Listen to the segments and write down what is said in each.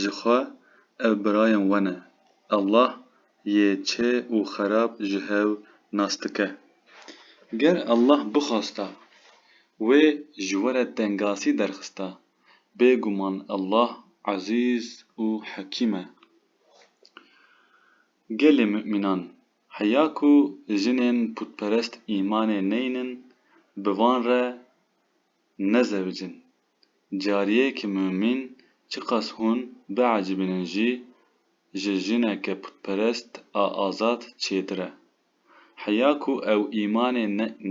ji xwe ev birayên we ne. Allah yê çê û xerab ji hev nas dike. Ger Allah bixwasta wê ji we re tengasî derxista, bêguman Allah Ezîz û Hekîm e. Gelê mumînan, heya ku jinên putperest îmanê neynin bi van re nezewicin, Cariyê ki mumîn çiqas hûn biecibînin jî ji jineke putperest a azad çêtir e. Heya ku ew îmanê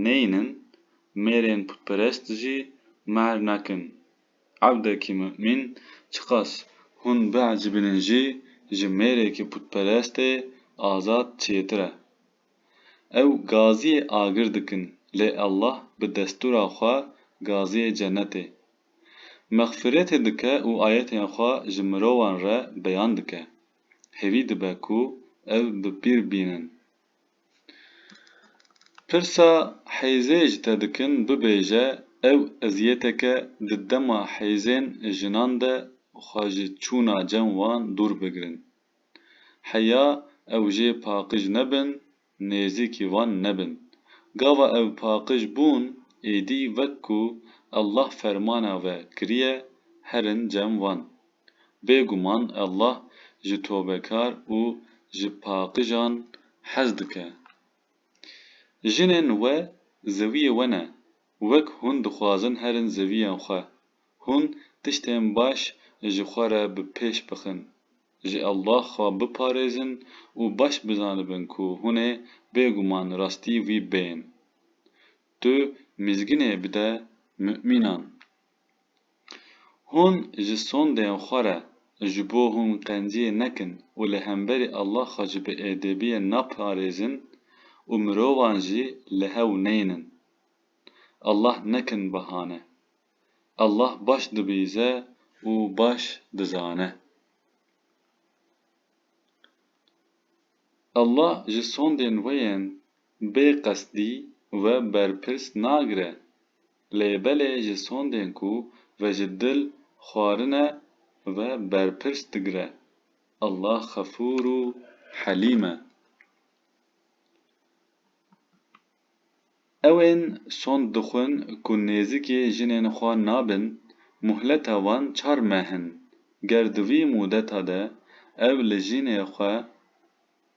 neyînin, mêrên putperest jî mehr nakin. Evdekî mumîn çiqas hûn biecibînin jî ji mêrekî putperestê azad çêtir e. Ew gaziyê agir dikin lê Allah bi destûra xwe gaziyê cenetê. Mexfiretê dike û ayetên xwe ji mirovan re beyan dike. Hêvî dibe ku ev bi pîr bînin. Pirsa hêzê ji te dikin bibêje ew eziyeteke di dema hêzên jinan de xwe ji çûna cem wan dûr bigirin. Heya ew jê paqij nebin, nêzîkî wan nebin. Gava ew paqij bûn, êdî wek ku Allah fermana we kiriye, herin cem wan. Bêguman Allah ji tobekar û ji paqijan hez dike. Jinên we zewiyê we ne, Wek hûn dixwazin herin zeviyên xwe, hûn tiştên baş ji xwe re bi pêş bixin, ji Allah xwe biparêzin û baş bizanibin ku hûn ê bêguman rastî wî bên. Tu mîzginê bide mumînan. Hûn ji sondên xwe re ji bo hûn qenciyê nekin û li hemberî Allah xwe ji biêdêbiyê naparêzin û mirovan jî li hew neynin. Allah nekin bahane. Allah baş dibîze û baş dizane. Allah ji sondên we yên bê qesdî we berpirs nagire, lê belê ji sondên ku ve ji dil xwarine ve berpirs digire. Allah Xefûr û Helîm e. Ew ên sond dixwin ku nêzikî jinên xwe nabin, muhleta wan çar meh in. Ger di vî mûdeta de ew li jinê xwe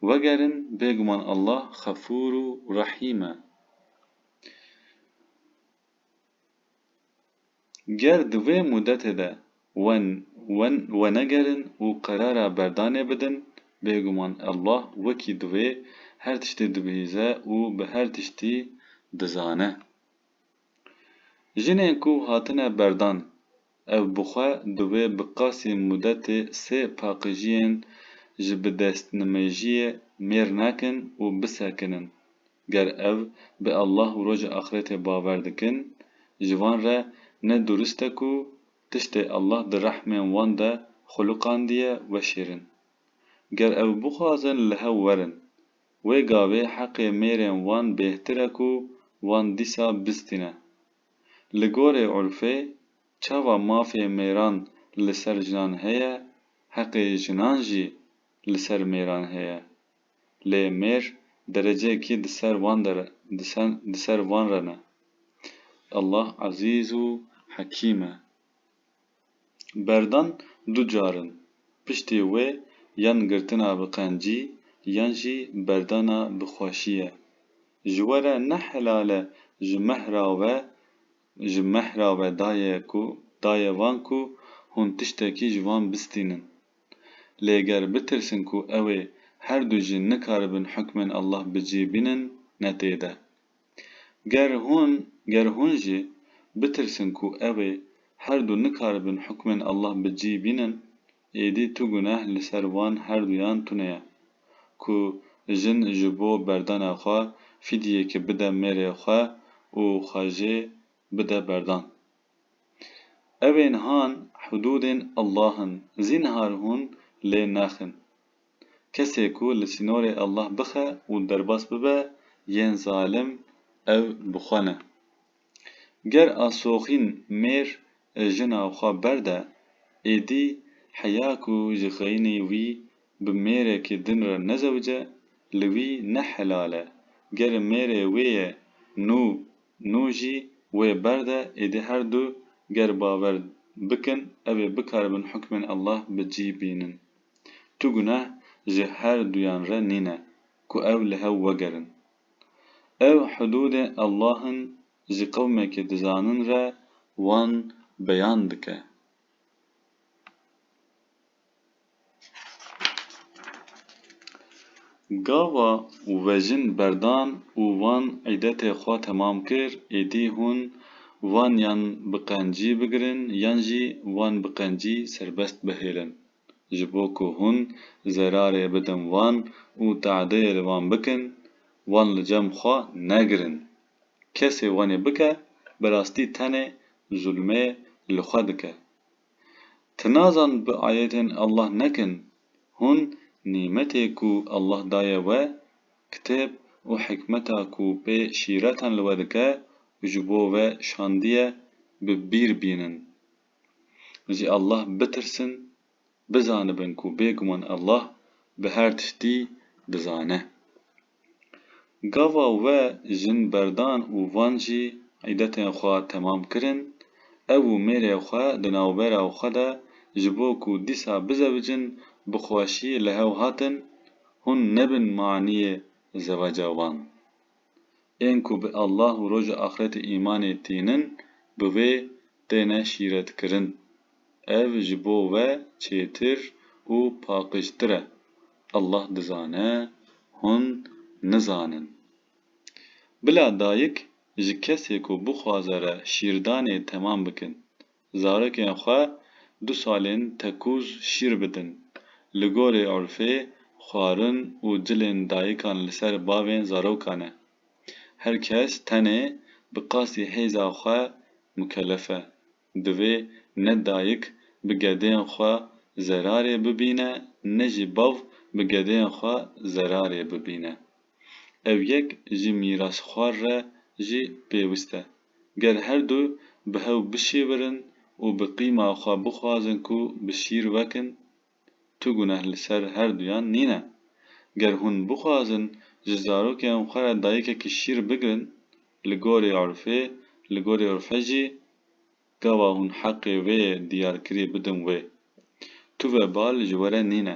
wegerin bêguman Allah xefûr û rehîm e. Ger di vê mudetê de we wenegerin û qerara berdanê bidin, bêguman Allah wekî divê her tiştê dibihîze û bi her tiştî dizane. Jinên ku hatine berdan, ev bi xwe divê bi qasî mudetê sê paqijiyên ji bidestnimêjiyê mêr nekin û bisekinin, Ger ev bi Allah û Rojê Axretê bawer dikin, ji wan re ne durist e ku tiştê Allah di rehmên wan de xulûqandiye weşêrin. Ger ew bixwazin li hev werin, wê gavê heqê mêrên wan bêhtir e ku wan dîsa bistîne. Li gorê urfê, çawa mafê mêran li ser jinan heye, heqê jinan jî li ser mêran heye. lê mêr dereceyekî di ser wan de re, di ser wan re ne. Allah Ezîz û Hekîm e. Berdan du car in, piştî wê yan girtina bi qencî yan jî berdana bi xweşî ye. Ji we re ne helal e ji mehra we Ji mehra ve daye ku daye van ku hûn tiştekî ji van bistînin. Lê ger bitirsin ku ew ê her du jin nikaribin hukmên Allah bi cî bînin ne tê de. Ger hûn ger hûn jî bitirsin ku ew ê her du nikaribin hukmên Allah bi cî bînin, Êdî tu guneh li ser wan herduyan tune ye. Ku jin ji bo berdana xwe fîdyeyekê bide mêrê xwe û xwe jê bide berdan. Ev ên han hudûdên Allah in zînhar hûn lê naxin. Kesê ku li sînorê Allah bixe û derbas bibe yên zalim ew bi xwe ne. Ger asoxîn mêr jina xwe berde, êdî heya ku ji xeyinî wî bi mêrekî din re nezewce, li wî ne helal e. Ger mêrê wê ye nû nû jî wê berde, êdî her du ger bawer bikin ew ê bikaribin hukmên Allah bi cî bînin. Tu guneh ji her duyan re nîne ku ew li hev wegerin. Ev hudûdê Allah in ji qewmekî dizanin re wan beyan dike. Gava vejin berdan û wan îdetê xwe temam kir, êdî hûn wan yan bi qencî bigirin yan jî wan bi qencî serbest bihêlin. ji bo ku hûn zerarê bidin wan û teadiyê li wan bikin, wan li cem xwe negirin. Kesê wanê bike, bi rastî tenê zulmê li xwe dike. Ti nazan bi ayetên Allah nekin, hûn nîmetê ku Allah daye we, kitêb û hikmeta ku pê şîretan li we dike û ji bo we şandiye, bi bîr bînin. Ji Allah bitirsin, bizanibin ku bêguman Allah bi her tiştî dizane. Gava we jin berdan û van jî îdetên xwe temam kirin, ew û mêrê xwe di navbera xwe de ji bo ku dîsa bizewicin bi xweşî li hev hatin, hûn nebin maniyê zeweca wan. Ên ku bi Allah û Roja Axretê îmanê tînin bi wê têne şîretkirin. Ev ji bo we çêtir û paqijtir e. Allah dizane, hûn nizanin. Bila dayik ji kesê ku bixwaze re şîrdanê temam bikin. zarekên xwe du salên tekûz şîr bidin. Li gorî urfê xwarin û cilên dayikan li ser bavên zarokan e. Her kes tenê bi qasî hêza xwe mukellef e. Divê ne dayik bi gedên xwe zerarê bibîne ne jî bav bi gedên xwe zerarê bibîne. Ev yek ji mîrasxwar re jî pêwist e. Ger her du bi hev bişêwirin û bi qîma xwe bixwazin ku bi şîr wekin, tu guneh li ser her duyan nîne. Ger hûn bixwazin ji zarokên xwe re dayikekî şîr bigirin, li gorî urfê, li gorî urfe jî Gawa hûn heqê vê diyarkirî bidin wê. Tu ve bal ji were nîne.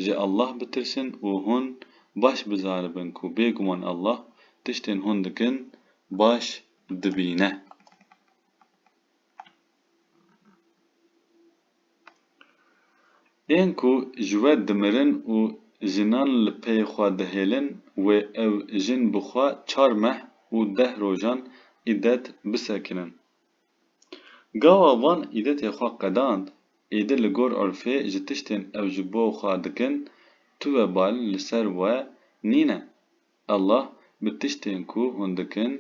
Ji Allah bitirsin û hûn baş bizanibin ku bêguman Allah tiştên hûn dikin baş dibîne. Ên ku ji we dimirin û jinan li pey xwe dihêlin wê ew jin bi xwe çar meh û deh rojan îdet bisekinin. Gawa van îdetê xwe qedand, Îdi li gor urfê ji tiştên ew ji bo xwe dikin tu webal li ser we nîne. Allah bi tiştên ku hûn dikin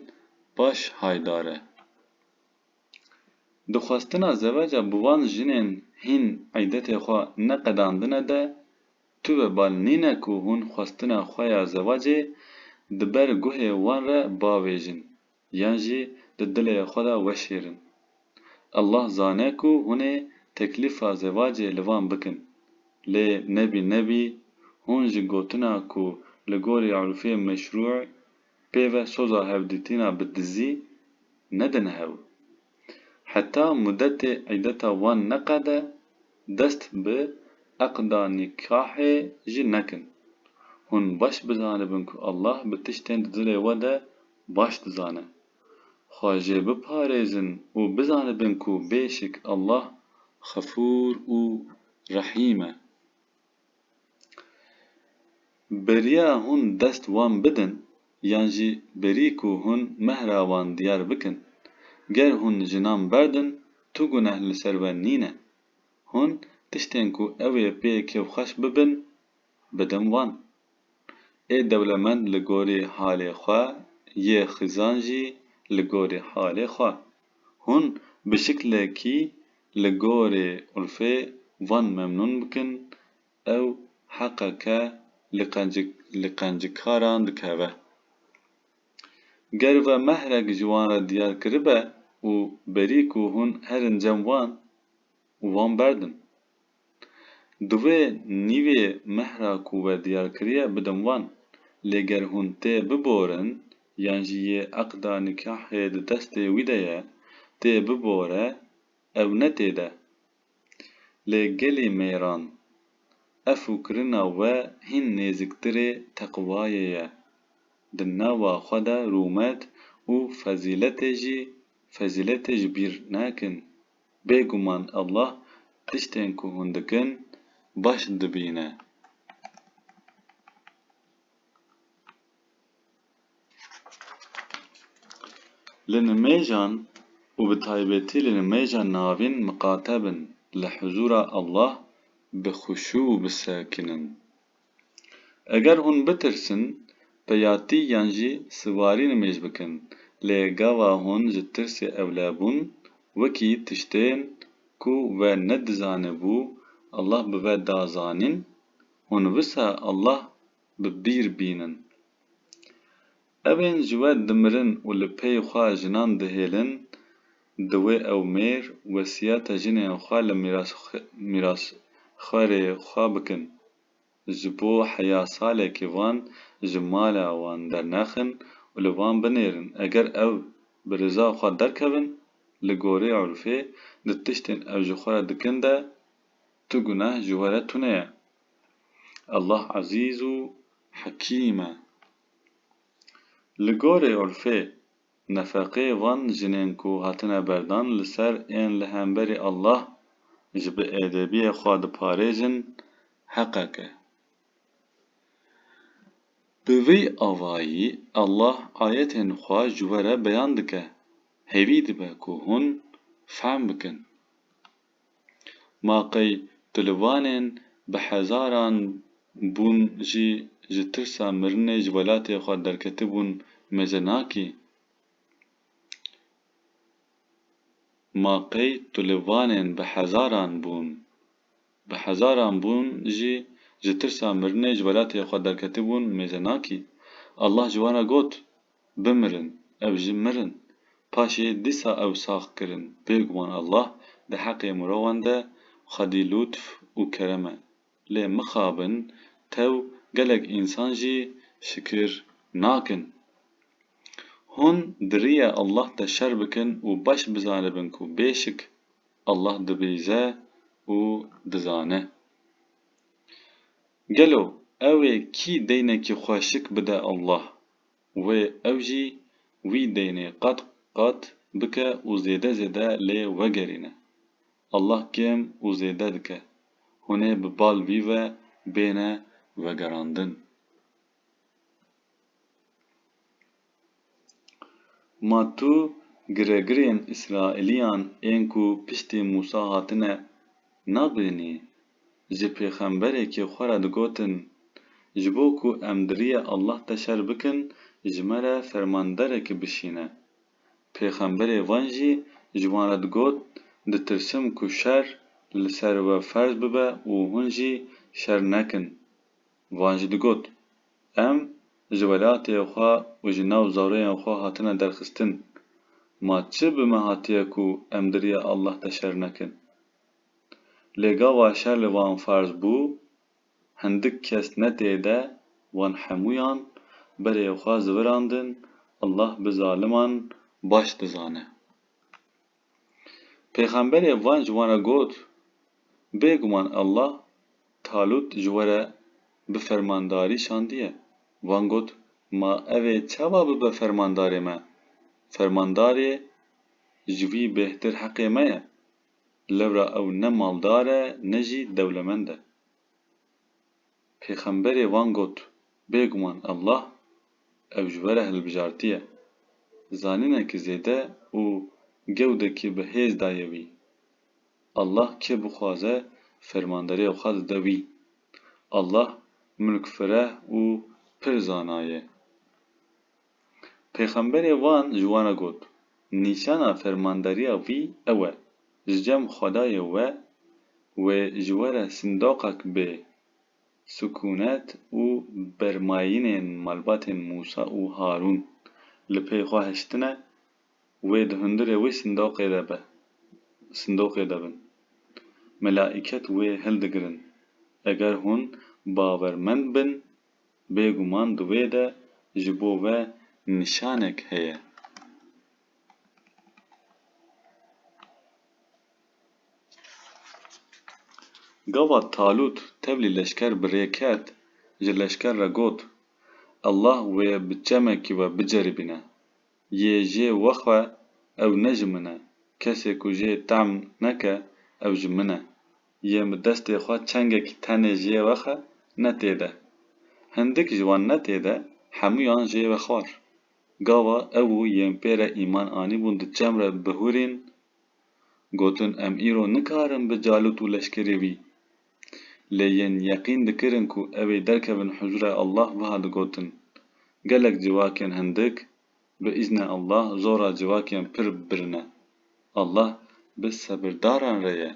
baş haydar e. Di xwestina zeweca bi van jinên hîn îdetê xwe neqedandine de tu webal nîne ku hûn xwestina xwe ya zewecê di ber guhê wan re bavêjin. yan jî di dilê xwe de weşêr in. Allah zane ku hûn ê teklîfa zevacê li van bikin. Lê nebî nebî hûn ji gotina ku li gorî urfê meşrû pêve soza hevdîtina bi dizî nedin hev. Heta mudetê îdeta wan neqede dest bi eqda nîkahê jî nekin. Hûn baş bizanibin ku Allah bi tiştên di dilê we de baş dizane. Xwe jê biparêzin û bizanibin ku bêşik Allah Xefûr û Rehîm e. Beriya hûn dest wan bidin yan jî berî ku hûn mehra wan diyar bikin. Ger hûn jinan berdin, tu guneh li ser we nîne. Hûn tiştên ku ew ê pê kêfxweş bibin, bidin wan. Ê dewlemend li gorî halê xwe yê xizan jî li gorî halê xwe. Hûn bi şiklekî li gorî Ulfê van memnûn bikin, ew heqeke li qencik li qencikaran dikeve. Ger ve mehrek ji wan re diyar kiribe û berî ku hûn herin cem wan û wan berdin. Di vê nîvê mehra ku we diyar kiriye bidim wan. Lê ger hûn tê biborin yan jî yê eqda nîkahê di destê wî de ye, tê bibore ew ne tê de. Lê gelê mêran, efû kirina we hîn nêziktirê teqwayê ye. Di nava xwe de rûmet û fezîletê jî fezîletê ji bîr nekin. Bêguman Allah tiştên ku hûn dikin baş dibîne. Li nimêjan û bi taybetî li nimêja navîn miqate bin li huzûra Allah bi xuşû û bisekinin. Eger hûn bitirsin, peyatî yan jî siwarî nimêj bikin, lê gava hûn ji tirsê ewlebûn wekî tiştên ku we nedizanibû Allah bi ve da zanîn, hûn wisa Allah bi bîr bînin. Evên ji we dimirin û li pey xwe jinan dihêlin, diwê ew mêr wesiyeta jinên xwe li mîrasxwerê xwe bikin. Ji bo heya salekî van ji mala wan dernexin û li van binêrin. Eger ew bi riza xwe derkevin, li gorî urfê di tiştên ew ji xwe re dikin de tu guneh ji we re tune ye. Allah Ezîz û Hekîm e. Li gorî urfê, nefeqê van jinên ku hatine berdan li ser ên li hemberî Allah ji bi êdebiyê xwe diparêjin heqek e. Bi vî avayî Allah ayetên xwe ji we re beyan dike, hêvî dibe ku hûn fehm bikin. Ma qey tu li Vanên bi hezaran bûn jî ji tirsa mirinê ji welatê xwe derketibûn mêze nakî? Ma qey tu li Vanên bi hezaran bûn bi hezaran bûn jî ji tirsa mirinê ji welatê xwe derketibûn mêze nakî? Allah ji wan re got, Bimirin, ev jî mirin. Paşê dîsa ew sax kirin. Bêguman Allah di heqê mirovan de xwedî lûtf û kerem e. Lê mixabin tew gelek însan jî şikir nakin. Hûn di rîya Allah de şer bikin û baş bizanibin ku bêşik Allah dibîze û dizane. Gelo ew ê kî deynekî xwe şik bide Allah? wê ew jî wî deynê qat qat bike û zêde zêde lê wegerîne. Allah kêm û zêde dike, hûn ê bi bal vî ve bêne vegerandin. Ma tu giregirên Îsraîlîyan ên ku piştî Mûsa hatine nabênî? ji pêxemberekî xwe re digotin, Ji bo ku em di riyê Allah de şer bikin ji me re fermanderekî bişîne. Pêxemberê van jî ji wan re digot, Ditirsim ku şer li ser we ferz bibe û hûn jî şer nekin. Van jî digot, Em ji welatê xwe û ji nav zaroyên xwe hatine derxistin. Ma çi bi me hatiye ku em di riyê Allah de şer nekin? Lê gava şer li wan ferz bû, hindik kes ne tê de wan hemûyan berê xwe zivirandin, Allah bi zaliman baş dizane. Pêxemberê van ji wan re got, Bêguman Allah Talût ji we re bi fermandarî şandiye. Van got, Ma ev ê çawa bibe fermandarê me? Fermandarê ji wî bêhtir heqê me ye. Lewra ew ne maldar e ne jî dewlemend e. Pêxemberê wan got, Bêguman Allah ew ji we re hilbijartiye. Zanînekî zêde û gewdekî bi hêz daye wî. Allah kê bixwaze fermanderiyê xwe dide wî. Allah mulkfireh û pir zana ye. Pêxemberê van ji wan re got, Nîşana fermandariya wî ew e, ji cem Xwedayê we wê ji we re sindoqek bê, sikûnet û bermayînên malbatên Mûsa û Harûn li pey xwe hiştine, wê di hundirê wê sindoqê de be, sindoqê de bin. Melaîket wê hildigirin. Eger hûn bawermend bin, Bêguman di wê de ji bo ve nîşanek heye. Gavat Talût tevlî leşker bi rê ket, ji leşker re got, Allah wê bi çemekî we biceribîne. Yê jê we xwe ew ne ji min e, kesê ku jê tehm neke ew ji min e. Yên bi destê xwe çengekî tenê jê we xe ne tê de. Hindik ji wan ne tê de hemûyan jê we xwar. Gava ew û yên pê re îman anîbûn di çem re bihûrîn, gotin em îro nikarin bi Calût û leşkerê wî. Lê yên yeqîn dikirin ku ew ê derkevin huzûrê Allah wiha digotin, Gelek civakên hindik Bi îzne Allah zora civakîyan pir birin e. Allah bi sebirdaran re ye.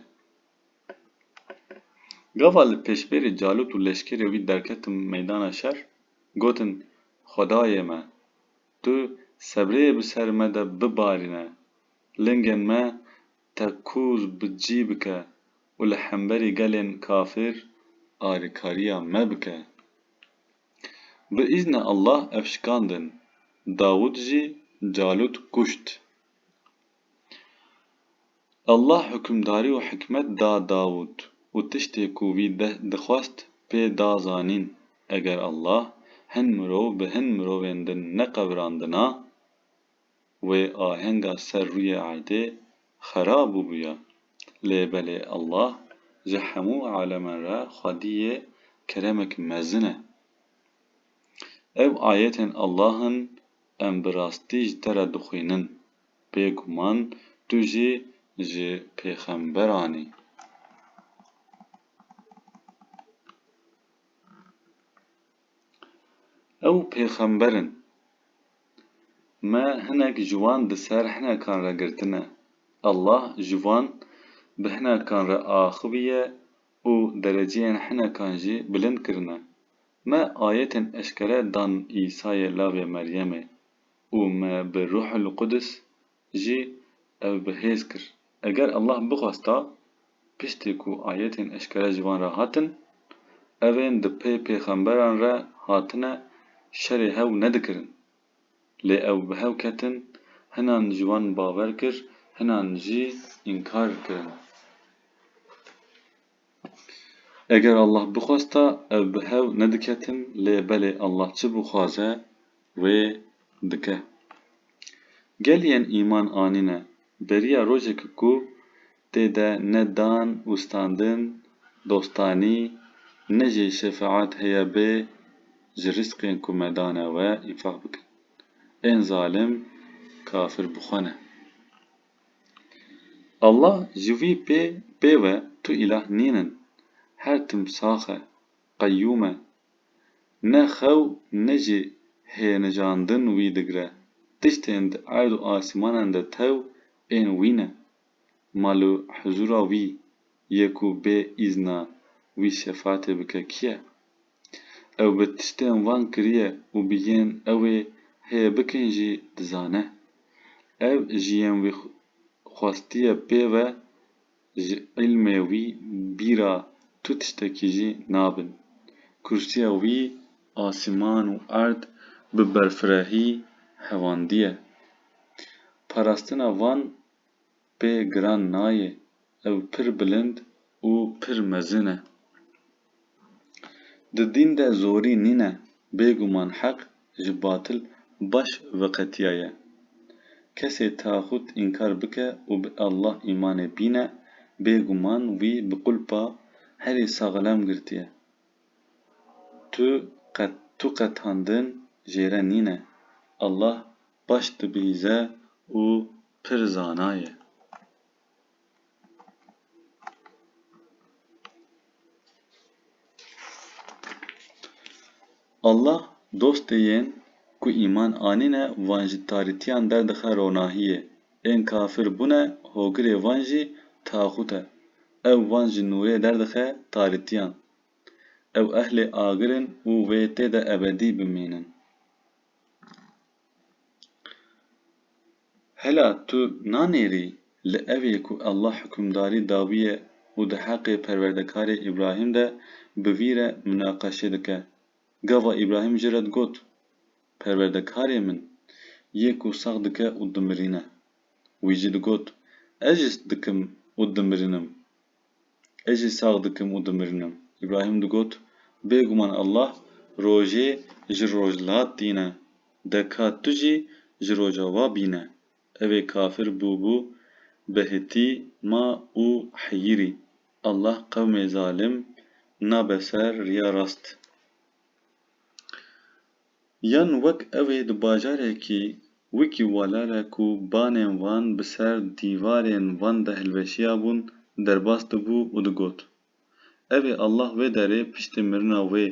Gava li pêşberî Calût û leşkerê wî derketin meydana şer, gotin, Xwedayê me! Tu sebreyê bi ser me de bibarîne, lingên me tekûz bi cî bike û li hemberî gelên kafir alîkariya me bike. Bi îzne Allah ev şikandin. Dawûd jî Calût kuşt. Allah hukimdarî û hikmet da Dawûd û tiştê ku wî dixwest pê da zanîn. Eger Allah hin mirov bi hin mirovên din neqevirandina, wê ahenga ser rûyê erdê xera bûbûya. Lê belê Allah ji hemû aleman re xwedî yê keremek mezin e. Ev ayetên Allah in em bi rastî ji te re dixwînin. Bê guman tu jî ji pêxemberan î. Ew pêxember in. Me hinek ji wan bi ser hinekan re girtine. Allah ji wan bi hinekan re axiviye û dereceyên hinekan jî bilind kirine. Me ayetên eşkere dan Îsayê lavê Meryemê û me bi Ruhul Qudis jî ev bi hêz kir. Eger Allah bixwesta, piştî ku ayetên eşkere ji wan re hatin, ev ên di pê pêxemberan re hatine şerê hew nedikirin. Lê ew bi hew ketin, hinan ji wan bawer kir, hinan jî înkar kirin. Eger Allah bixwesta ev bi hev nediketin lê belê Allah çi bixwaze wê dike. Gel yên îman anîne beriya rojekê ku tê de ne dan û standin, dostanî, ne jî şefaet heye bê ji rîsqên ku me dane we înfaq bikin. Ên zalim kafir bi xwe ne. Allah ji vî pê ve tu îlah nîn in, her tim sax e, qeyûm e. Ne xew ne jî hênijandin wî digire, tiştên di erd û asîmanan de tew ên wî ne. Mal û huzûra wî yê ku bê îzna wî şefatê bike kî ye? Ew bi tiştên van kiriye û bi yên ew ê heye bikin jî dizane. Ev ji yên wî xwestiye pê ve ji îlmê wî bîra tu tiştekî jî nabin. Kursîya wî asîman û erd bi berfirehî hevandiye. Parastina van Pê giran nayê, ew pir bilind û pir mezin e. Di dîn de zorî nîne, bêguman heq ji batil baş veqetiyaye. Kesê taxût înkar bike û bi Allah îmanê bîne, bêguman wî bi qulpa herî saxlem girtiye. Tu qet tu qetandin jêre nîne. Allah baş dibihîze û pir zana ye. Allah dostê yên ku îman anîne van ji tarîtiyan derdixe ronahiyê. Ên kafir bûne hogirê van jî taxût e. Ew van ji nûrê derdixe tarîtiyan. Ew ehlê agir in û wê tê de ebedî bimînin. Hela tu nanêrî li evê ku Allah hukimdarî dawiye û di heqê perwerdekarê Îbrahîm de bi vî re munaqeşe dike. Gava Îbrahîm ji re digot, Perwerdekarê min, yê ku sax dike û dimirîne. Wî jî digot, Ez jî dikim û dimirînim. Ez jî sax dikim û dimirinim. Îbrahîm digot, Bêguman Allah rojê ji rojhilat tîne, deka tu jî ji roja wa bîne. Evê kafir bûbû bi hitî ma û heyîrî. Allah qewmê zalim nabe ser riya rast. Yan wek ew ê di bajarekî wekî Walale ku banên wan bi ser dîvarên van de hilweşiyabûn derbas dibû û digot, Ev ê Allah wê derê piştî mirina wê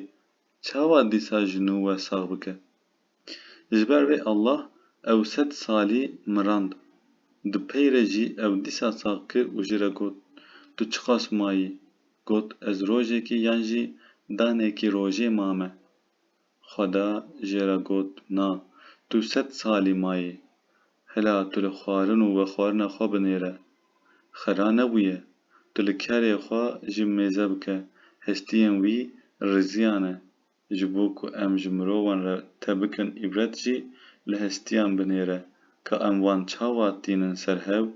çawa dîsa ji nû we sax bike? Ji ber vê Allah ew sed salî mirand. Di pey re jî ew dîsa sax ki û ji re got, Tu çiqas mayî? Got, Ez rojekî yan jî danekî rojê mame. Xweda jê re got, Na, tu sed salî mayî. Hila tu li xwarin û vexwarina xwe binêre. Xera nebûye. Tu li kerê xwe ji mêze bike. Hestiyên wî riziyan e. Ji bo ku em ji mirovan re te bikin îbret jî li hestiyan binêre ka em wan çawa tînin ser hev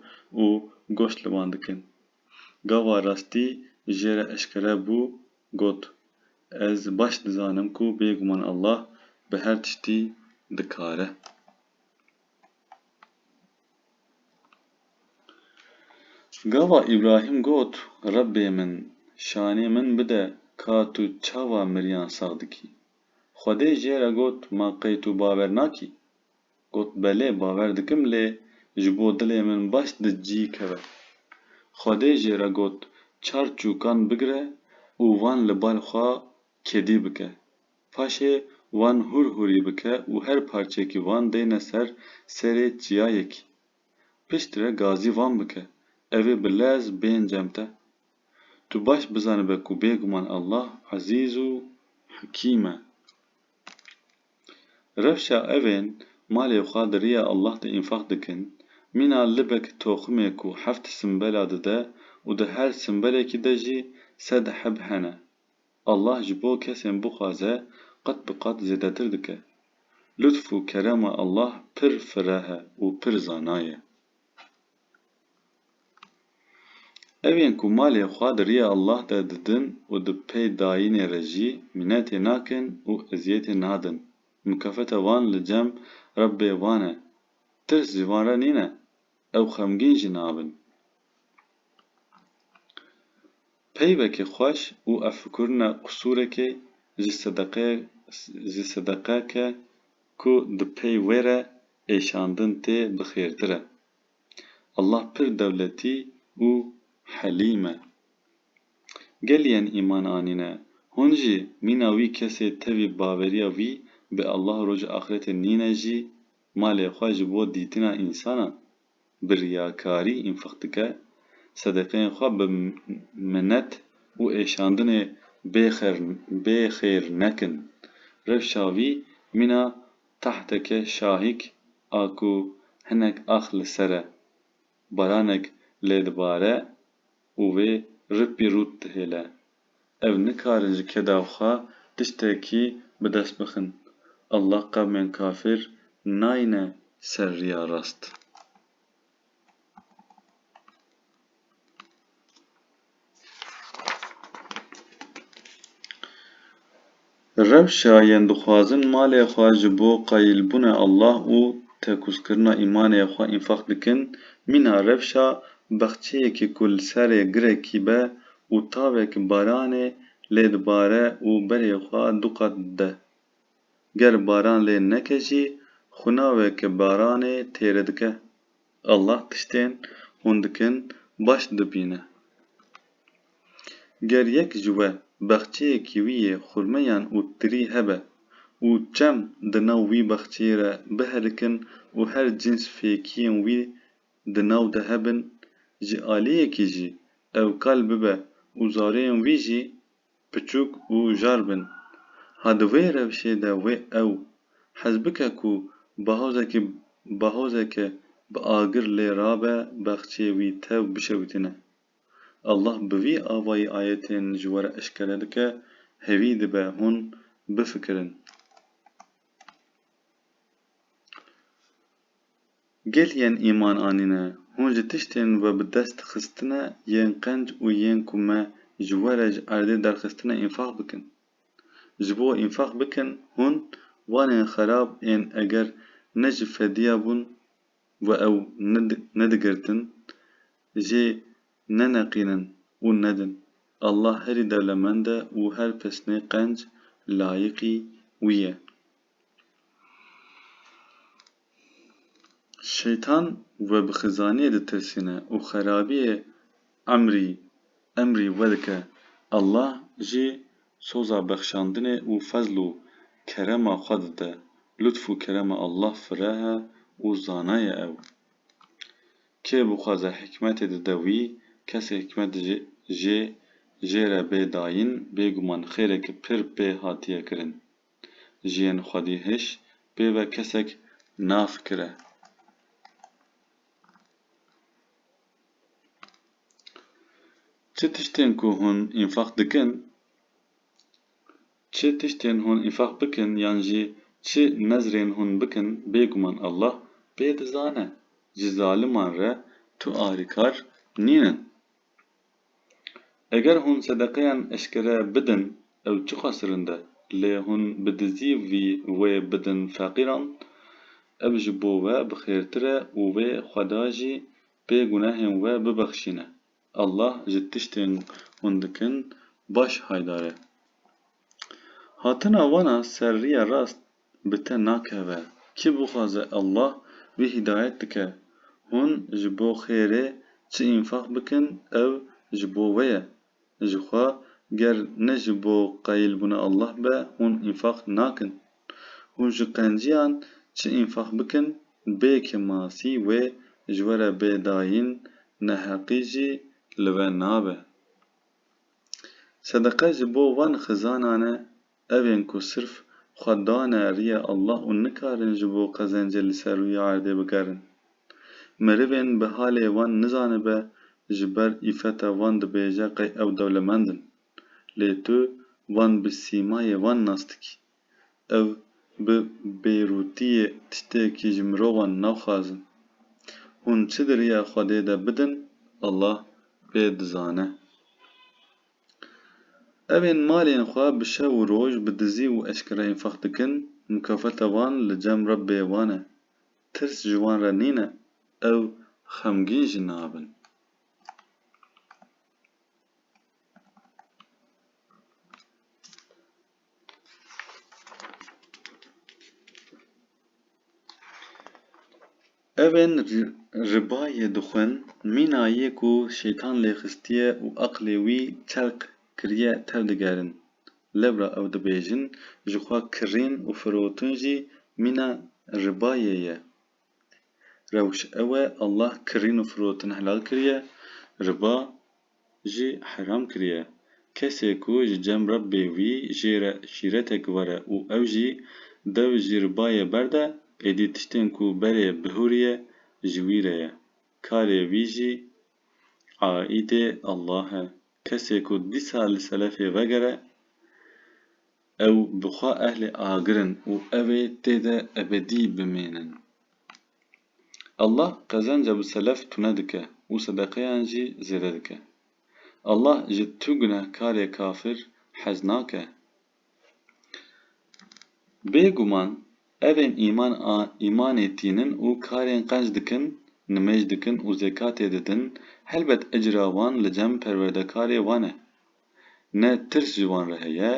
û goşt li wan dikin. Gava rastî jê re eşkere bû Got, Ez baş dizanim ku bêguman Allah bi her tiştî dikar e. Gava Îbrahîm got, Rebbê min, şanê min bide ka tu çawa miriyan sax dikî. Xwedê jê re got, Ma qey tu bawer nakî? Got, Belê bawer dikim lê ji bo dilê min baş di cî keve. Xwedê jê re got, Çar çûkan bigire û wan li bal xwe kedî bike. Paşê wan hûr hûrî bike û her parçeyekî wan deyne ser serê çiyayekî. Pişt re gazî wan bike. Ev ê bi lez bên cem te. Tu baş bizanibe ku bêguman Allah Ezîz û Hekîm e. Rewşa evên malê xwe di riya Allah de înfaq dikin, mîna libek toximê ku heft simbela dide û di her simbelekî de jî sed heb hene. Allah ji bo kesên bixwaze qet bi qat zêdetir dike. Lutf û kerema Allah pir fireh e û pir zana ye. Ev yên ku malê xwe di riya Allah de didin û di pey dayînê re jî mînetê nakin û eziyetê nadin, mukefeta wan li cem Rebbê wan e. Tirs ji wan re nîne, ew xemgîn jî nabin. Peyvekê xweş û evfikirina qusûrekê ji sedeqeyek ji sedeqeke ku di pey wê re êşandin tê bi xêrtir e. Allah pir dewletî û helîm e. Gelî yên îman anîne, hûn jî mîna wî kesê tevî bawerîya wî bi Allah û rojê axretê nîne jî malê xwe ji bo dîtina însanan bi riyakarî înfaq dike, sedeqeyên xwe bi minet û êşandinê bê xêr nekin. Rewşa vî mîna tahteke şahîk a ku hinek ax li ser e, baranek lê dibare, û wê ripî rût dihêle. Ew nikarin ji keda xwe tiştekî bi dest bixin. Allah qewmên kafir nayne ser riya rast. Rewşa yên dixwazin malê xwe ji bo qayîlbûna Allah û tekuzkirina îmanê xwe înfaq dikin, mîna rewşa baxçeyekî ku li serê girekî be û tavek baranê lê dibare û berê xwe du qat dide. Ger baran lê neke jî, xwinawek baranê têri dike. Allah tiştên hûn dikin baş dibîne. Ger yek ji we baxçeyê kîwiyê, xurmeyan û tirî hebe û çem di nav wî baxçeyê re bihelikin û her cîns fêkiyên wî di nav de hebin, ji aliyekî jî ew kal bibe û zareyên wî jî piçûk û jar bin. Ha di vê rewşê de wê ew hizbike ku bi hozekî bi hozeke bi agir lê rabe bexçê wî tev bişewitîne. Allah bi vî avayî ayetên ji we re eşkere dike, hêvî dibe hûn bifikirin. Gel yên îman anîne, hûn ji tiştên we bi dest dixistine yên qenc û yên ku me ji we re ji erdê derxistine înfaq bikin. Ji bo înfaq bikin hûn wanên xerab ên eger ne ji fediya bûn we ew nedigirtin jê neneqînin û nedin. Allah herî dewlemend e û her pisnê qenc layîqî wî ye. Şeytan we bi xizaniyê ditirsîne û xerabiyê emrî emrî we dike. Allah jî soza bexşandinê û fezl û kerema xwe dide. Lutf û kerema Allah fireh e û zana ye ew. Kê bixwaze hikmetê dide wî, kesê hikmet jê jê jê re bê dayîn, bêguman xêrek pir pê hatiye kirin. jiyên xwedî hiş pê ve kesek nafikire. Çi tiştên ku hûn înfaq dikin, çi tiştên hûn înfaq bikin yan jî çi nezrên hûn bikin bêguman Allah pê dizane. Ji zaliman re tu arîkar nînin. Eger hûn sedeqeyan eşkere bidin ew çiqas rind e, lê hûn bi dizî vî wê bidin feqîran, ev ji bo we bi xêrtir e û wê Xweda jî pê gunehên we bibexşîne. Allah ji tiştên hûn dikin baş haydar e. Hatina wana ser riya rast bi te nakeve, kî bixwaze Allah wî hîdayet dike, hûn ji bo xêrê çi înfaq bikin ev ji bo we ye, jixwe ger ne ji bo qayîlbûna Allah be hûn înfaq nakin, hûn ji qenciyan çi înfaq bikin bê ke masî wê ji we re bê dayîn neheqî jî li we nabe. Sedeqe ji bo van xizanan e, ev ên ku sirf xwe dane riyê Allah û nikarin ji bo qezencê li ser rûyê erdê bigerin. Merivên bi halê wan nizanibe ji ber îfeta wan dibêje qey ew dewlemend in. Lê tu van bi sîmayê wan nas dikî. Ev bi bêrûtiyê tiştekî ji mirovan naxwazin. Hûn çi di riya Xwedê de bidin Allah pê dizane. Evên malên xwe bi şev û roj bi dizî û eşkere înfaq dikin, mukafeta wan li cem Rebbê wan e. Tirs ji wan re nîne, ew xemgîn jî nabin. Ev ên ribayê dixwin, mîna yê ku Şeytan lê xistiye û aqilê wî çelq kiriye tev digerin. Lewra ew dibêjin, ji xwe kirîn û firotin jî mîna ribayê ye. Rewş ew e, Allah kirîn û firotin helal kiriye, riba jî heram kiriye. Kesê ku ji cem Rebbê wî jê re şîretek were û ew jî dew ji ribayê berde, êdî tiştên ku berê bihûriye ji wî re ye. Karê wî jî aîdê Allah e. Kesê ku dîsa li selefê vegere, ew bi xwe ehlê agir in û ew ê tê de ebedî bimînin. Allah qezenca bi selef tune dike û sedeqeyan jî zêde dike. Allah ji tu gunehkarê kafir hez nake. Bê guman evên îman a îmanê tînin û karên qenc dikin, nimêj dikin û zekatê didin, helbet ecra wan li cem Perwerdekarê wan e. Ne tirs ji wan re heye,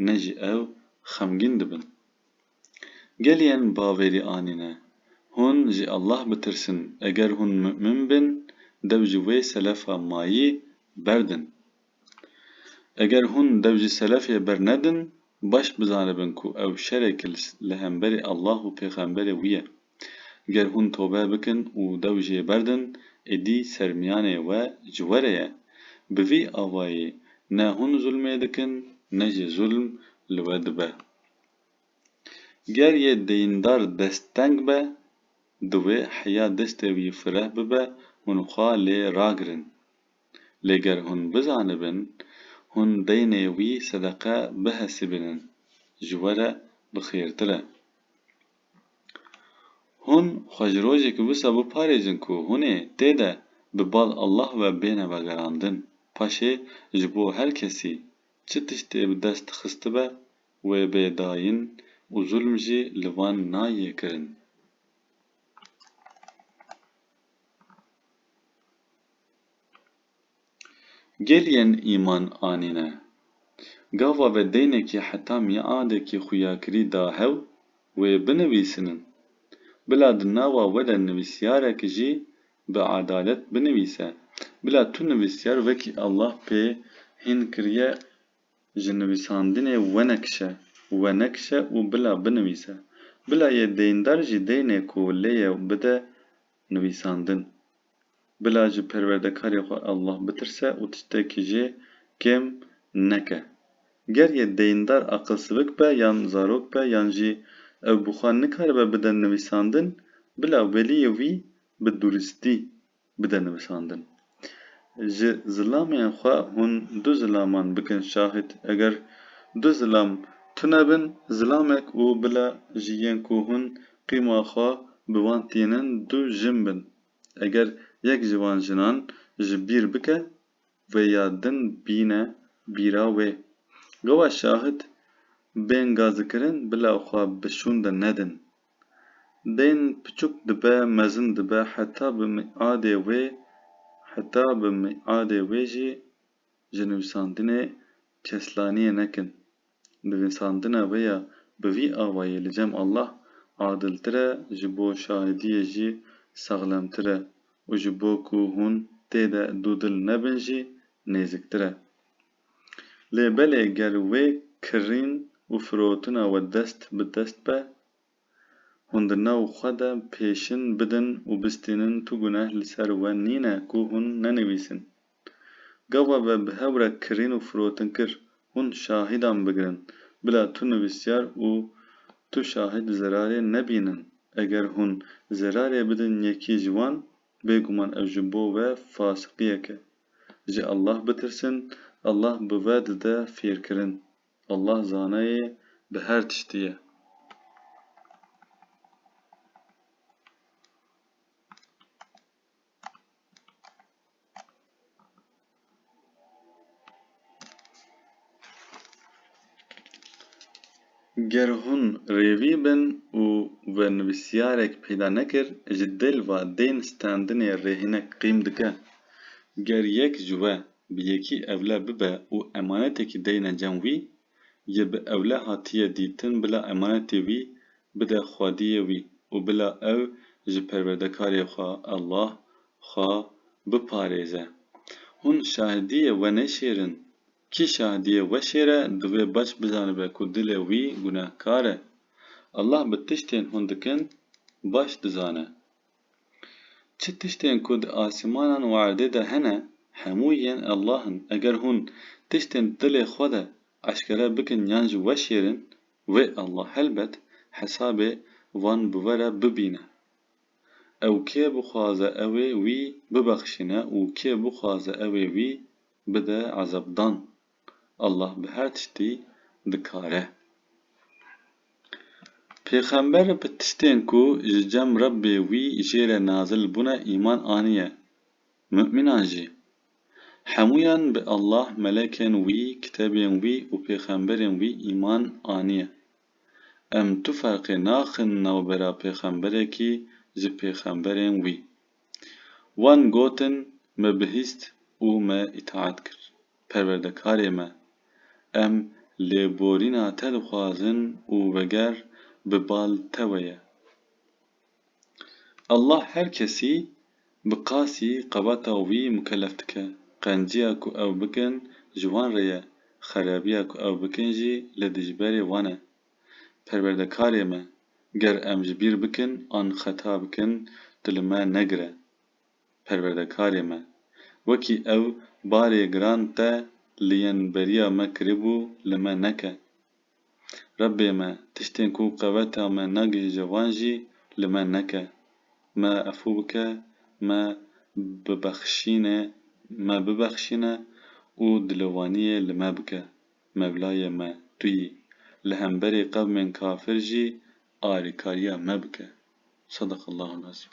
ne jî ew xemgîn dibin. Gelê em baverî anîne. Hûn ji Allah bitirsin, eger hûn mu'min bin, dew ji wê selefa mayî berdin. Eger hûn dew ji selefê bernedin, baş bizanibin ku ew şerek li hemberî Allah û pêxemberê wî ye. Ger hûn tobe bikin û dew jê berdin, êdî sermiyanê we ji we re ye. Bi vî avayî ne hûn zulmê dikin, ne jî zulm li we dibe. Ger yê deyndar desteng be, divê heya destê wî fireh bibe hûn xwe lê ragirin. Lê ger hûn bizanibin, hûn deynê wî sedeqe bihesibînin, ji we re bi xêrtir e. Hûn xwe ji rojekî wisa biparêzin ku hûnê tê de bi bal Allah ve bêne vegerandin. Paşê ji bo her kesî çi tiştê bi dest xistibe, Wê bê dayîn û zulm jî li van nayê kirin. Gel yên îman anîne. Gava ve deynekî heta mîadekî xuyakirî da hew, wê binivîsinin. Bila di nava we de nivîsyarek jî bi edalet binivîse. Bila tu nivîsyar wekî Allah pê hîn kiriye Ji nivîsandinê wenekişe, wenekişe û bila binivîse. Bila yê deyndar jî deynê ku lê ye bide nivîsandin. Bila ji Perwerdekarê xwe Allah bitirse û tiştekî jê kêm neke. Ger yê deyndar aqilsivik be yan zarok be yan jî ew bi xwe nikaribe bide nivîsandin, bila weliyê wî bi duristî Bide nivisandin. Ji zilamên xwe hûn du zilaman bikin şahîd. Eger du zilam tune bin, zilamek û bila jî yên ku hûn qîma xwe bi wan tînin du jin bin. Eger yek ji wan jinan ji bîr bike, wê ya din bîne bîra wê. Gewa şahîd bên gazikirin bila xwe bi şûnde nedin. Bên piçûk dibe mezin dibe heta bi miadê wê heta bi miadê wê jî ji nivîsandinê keslaniyê nekin. Nivîsandina wê ya bi vî awayî li cem Allah adiltir e ji bo şahidiyê jî saxlemtir e û ji bo ku hûn tê de dûdil nebin jî nêziktir e. Lê belê ger wê kirîn û firotina we dest bi dest be, hûn di nav xwe de pêşin bidin û bistînin tu guneh li ser we nîne ku hûn nenivîsin. Gava ve bi hev re kirîn û firotin kir, hûn şahîdan bigirin, bila tu nivîsyar û tu şahîd zerarê nebînin. Eger hûn zerarê bidin yekî ji wan, Bêguman ev ji bo we fasiqiyek e. Ji Allah bitirsin, Allah bi ve dide fêrkirin. Allah zanayê bi her tiştî ye. Ger hûn rêvî bin û we nivîsyarek peyda nekir ji dil ve dên standinê rê hinek qîm dike. Ger yek ji we bi yekî ewle bibe û emanetekî deyne cem wî, yê bi ewle hatiye dîtin bila emanetê wî bide xwediyê wî û bila ew ji perwerdekarê xwe Allah xwe biparêze. Hûn şahidiyê we nêşêrin. Kî şahidiyê we şêre divê baş bizanibe ku dilê wî gunehkar e. Allah bi tiştên hûn dikin baş dizane. Çi tiştên ku di asîmanan û erdê de hene, hemû yên Allah in. Eger hûn tiştên di dilê xwe de eşkere bikin yan jî weşêrin, wê Allah helbet hesabê wan bi we re bibîne. Ew kê bixwaze ew ê wî bibexşîne û kê bixwaze ew ê wî bide ezabdan. Allah bi her tiştî dikar e. Pêxember bi tiştên ku ji cem Rebbê wî jê re nazil bûne îman aniye. Mu'mînan jî. Hemûyan bi Allah, melekên wî, kitebên wî û pêxemberên wî îman aniye. Em tu ferqê naxin navbera pêxemberekî ji pêxemberên wî. Wan gotin, Me bihîst û me îtaet kir. Perwerdekarê me, em lêborîna te dixwazin û veger bi bal te we ye. Allah her kesî bi qasî qebata wî mukellef dike. Qenciya ku ew bikin ji wan re ye, xerebiya ku ew bikin jî li dijberê wan e. Perwerdekarê me, ger em ji bîr bikin an xeta bikin, tu li me negire. perwerdekarê me. Wekî ew barê giran te li yên beriya me kiribû li me neke. Rebbê me tiştên ku qeweta me nagihîje wan jî li me neke. Me efû bike, me bibexşîne, me bibexşîne û dilovaniyê li me bike. Mevlayê me tu yî. Li hemberê qewmên kafir jî alîkariya me bike. Sadaqallahul azîm.